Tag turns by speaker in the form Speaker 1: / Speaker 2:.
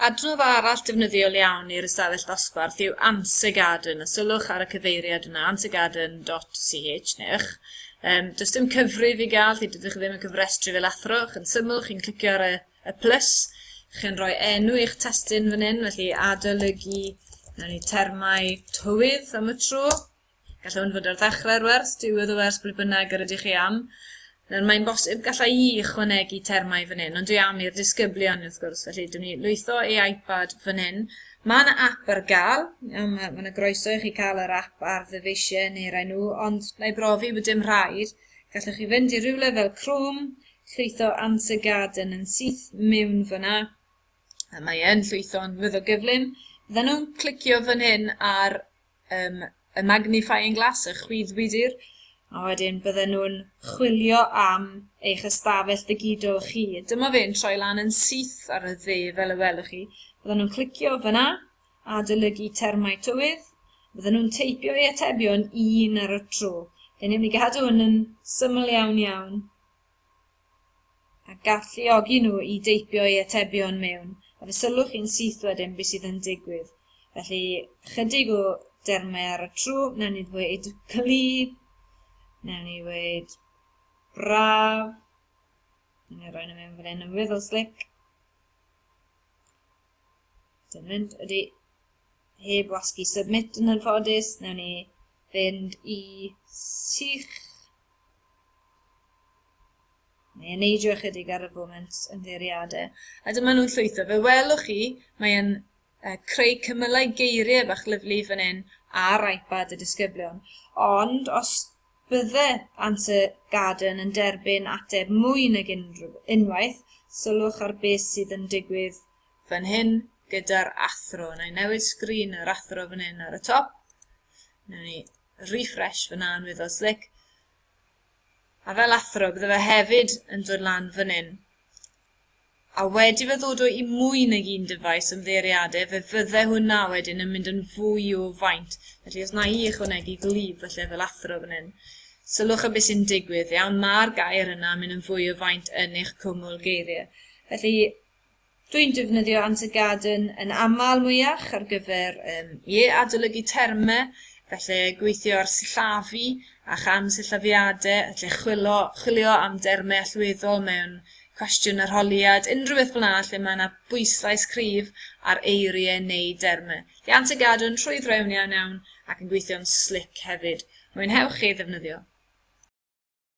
Speaker 1: Adnodd arall defnyddiol iawn i'r ystafell ddosbarth yw Answer Garden, a sylwch ar y cyfeiriad yna, answergarden.ch, neu'ch. Um, does dim cyfrif i gael, chi dydych chi ddim yn cyfrestru fel athro, chi'n syml, chi'n clicio ar y, y plus, chi'n rhoi enw i'ch testyn fan hyn, felly adolygu, na ni termau tywydd am y tro, Gallai hwn fod ar ddechrau'r wers, diwedd y wers, ble bynnag yr ydych chi am. Nawr, mae'n bosib gallai i ychwanegu termau fan hyn, ond dwi am i'r disgyblion wrth gwrs, felly dwi'n ni lwytho ei iPad fan hyn. Mae yna app ar gael, mae yna groeso i chi cael yr app ar ddyfeisiau neu rai nhw, ond na i brofi bod dim rhaid. Gallwch chi fynd i rywle fel Chrome, llwytho Answer Garden yn syth mewn fyna, a mae e'n llwytho'n weddol gyflym. Fydden nhw'n clicio fan hyn ar um, y magnifying glass, y chwyddwydr, a wedyn bydden nhw'n chwilio am eich ystafell ddigidol chi. Dyma fe'n troi lan yn syth ar y dde fel y welwch chi. Bydden nhw'n clicio fyna a dylygu termau tywydd. Bydden nhw'n teipio eu atebion un ar y tro. Dyn ni'n mynd i gadw hwn yn syml iawn iawn. a galluogi nhw i deipio eu atebion mewn, a fe sylwch chi'n syth wedyn beth sydd yn digwydd. Felly, chydig o dermau ar y tro, newn ni ddweud clyb, newn ni ddweud braf, newn ni roi nhw mewn fan hyn yn weddol slic. Dyn mynd, ydy. heb wasgu submit yn anffodus, newn ni fynd i sych. Mae e'n neidio ychydig ar y foment yn ddeiriadau. A dyma nhw'n llwytho. Fe welwch chi, mae'n uh, creu cymylau geiriau bach lyflu fan hyn ar iPad y disgyblion. Ond os bydde Answer Garden yn derbyn ateb mwy nag unrhyw, unwaith, sylwch ar beth sydd yn digwydd fan hyn gyda'r athro. Wna i newid sgrin yr athro fan hyn ar y top. Wna i refresh fyna yn wyddo slic. A fel athro, bydde fe hefyd yn dod lan fan hyn. A wedi fe ddod o i mwy nag un dyfais ymddeiriadau, fe fydde hwnna wedyn yn mynd yn fwy o faint. Felly os na i ychwanegu glif felly fel athro fan hyn, sylwch y beth sy'n digwydd, iawn, mae'r gair yna yn mynd yn fwy o faint yn eich cwmwl geiriau. Felly, Dwi'n defnyddio Anti Garden yn aml mwyach ar gyfer um, ie, adolygu termau, felly gweithio ar sillafu a cham sillafiadau, felly chwilo, chwilio am dermau allweddol mewn cwestiwn arholiad, unrhyw beth fel yna lle mae yna bwyslais cryf ar eiriau neu dermau. Felly Anti Garden yn rhwydd rewn iawn iawn ac yn gweithio'n slic hefyd. Mwynhewch chi ddefnyddio.